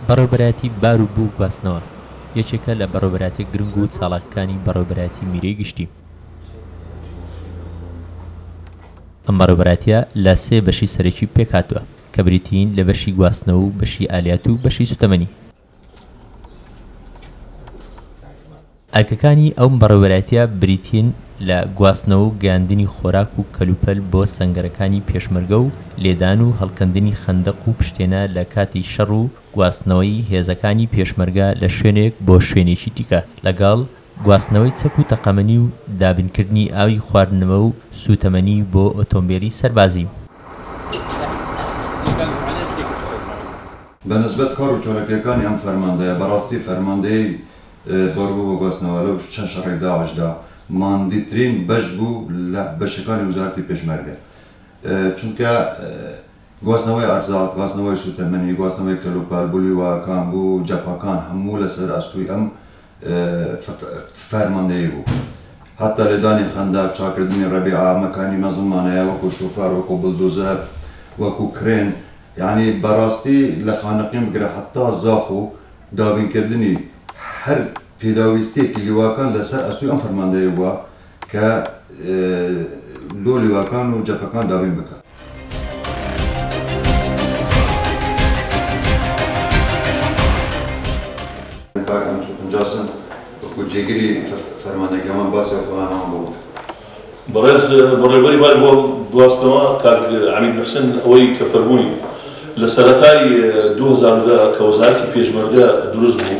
بەڕێوەبەرایەتی بار و بوو گواستنەوە یەکێکە لە بەڕێوەبەرایەتیە گرنگ و چالاکەکانی بەڕێوەبەرایەتی میرەی گشتی. ئەم بەڕێوەبەرایەتیە لە سێ بەشی سەرەکی پێکهاتوە کە بریتیین لە بەشی گواستنەوە و بەشی ئالیات و بەشی سوتەمەنی. ئەرکەکانی ئەو بەڕێوەبەرایەتیە بریتین لە گواستنەوە و گەیاندنی خۆراک و کەلوپەل بۆ سەنگەرەکانی پێشمەرگە و لێدان و هەڵکەندنی خەندەق و پشتێنە لە کاتی شەڕ و گواستنەوەی هێزەکانی پێشمەرگە لە شوێنێک بۆ شوێنێکی دیکە لەگەڵ گواستنەوەی چەک و تەقەمەنی و دابینکردنی ئاوی خواردنەوە و سوتەمەنی بۆ ئۆتۆمبێلی سەربازی. بە نسبەت کار و چالاکییەکانی ئەم فەرماندەیە، بەڕاستی فەرماندەی باربوو بە گواستنەوە لەو چەند شەڕەی داعشدا ماندیترین بەش بوو لە بەشەکانی وەزارەتی پێشمەرگە. چونکە گواستنەوەی ئەرزاق، گواستنەوەی سووتەمەنی، گواستنەوەی کەلوپەل، بلویواکان، بوو جەپەکان هەموو لەسەر ئەستووی ئەم فەرماندەیی بوو. هەتا لێدانی خەندەق، چاککردنی ڕەبیعە، مەکانی مەزڵمانەیە وەکوو شوفەر، وەکوو بلدوزەر، وەکوو کرێن، یەعنی بەڕاستی لە خانەقین بگرە هەتا زاخ و دابینکردنی هەر پێداویستییەکی لیواکان لەسەر ئەستۆی ئەم فەرماندەیە بووە. کە لۆ لیواکان و جەپەکان دابین بکا. کاک ئەنتۆ پنجاسن وەکو جێگری فەرماندەی کەمان باسی ئەو پلانەمان بۆ بکە. بەڕێز بەڕێوەبەری باری بۆ گواستنەوە کاک عەمید موحسن ئەوەی کە فەرمووی لە سەرەتای دوو هەزار و دە کە وەزارەتی پێشمەرگە دروست بوو،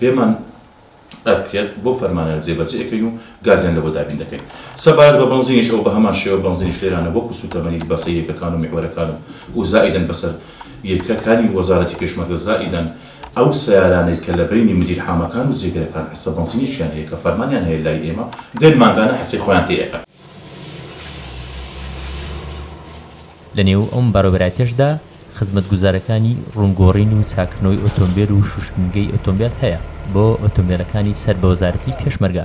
پێمان ئەرکرێت بەو فەرمانەیان جێبەجێ ئەکەین و گازیان لەوە دابین دەکەین. سەبارەت بە بەنزینیش ئەوە بەهەمان شێوە بەنزینیش لێرانە وەکو سوتەمەنی بەسە یەکەکان و میحوەرەکان و و زائیدەن بەسەر یە کە کانی وەزارەتی پێشمەرگە زائیدەن، ئەو سەیارانەی کە لە بەینی مدیر حامەکان و جێگرەکان حسە بەنزینێکیان هەیە کە فەرمانیان هەیە لای ئێمە دێن مانگانە حسەی خۆیان تێ ئەکەن. لە نێو ئەم بەڕێوەبەرایەتیەشدا خزمەتگوزارەکانی ڕوونگۆڕین و چاککردنەوەی ئۆتۆمبێل و شوشتنگەی ئۆتۆمبێل هەیە بۆ ئۆتۆمبێلەکانی سەر بە وەزارەتی پێشمەرگە.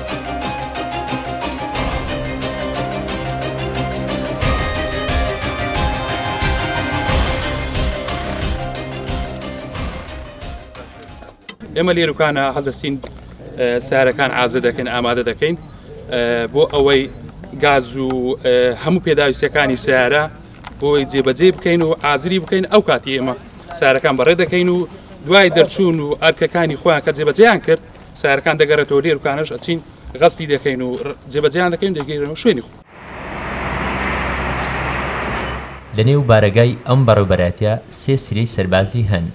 ئێمە لێروکانە هەڵدەستین سارەکان ئازە دەکەین ئامادە دەکەین بۆ ئەوەی گاز و هەموو پێداویستەکانی سیارە بۆی جێبەجێ بکەین و ئازری بکەین ئەو کاتی ئێمە سارەکان بەڕێ دەکەین و دوای دەرچوون و ئەرکەکانی خۆیان کە جێبەجیان کرد سەیارەکان دەگەرێتەوە لێروکانەش ئەچین غەستی دەکەین و جێبەجیان دەکەین دەگەیرەوە شوێنی خۆ. لەنێو بارەگای ئەم بەڕێوبەرایەتیە سێ سریەی سەربازی هەن،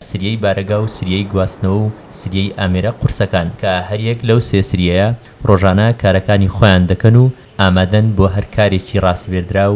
سریەی بارەگا و سریەی گواستنەوە و سریەی ئامێرە قورسەکان، کە هەریەک لەو سێ سریەیە ڕۆژانە کارەکانی خۆیان دەکەن و ئامادەن بۆ هەر کارێکی ڕاسپێردراو،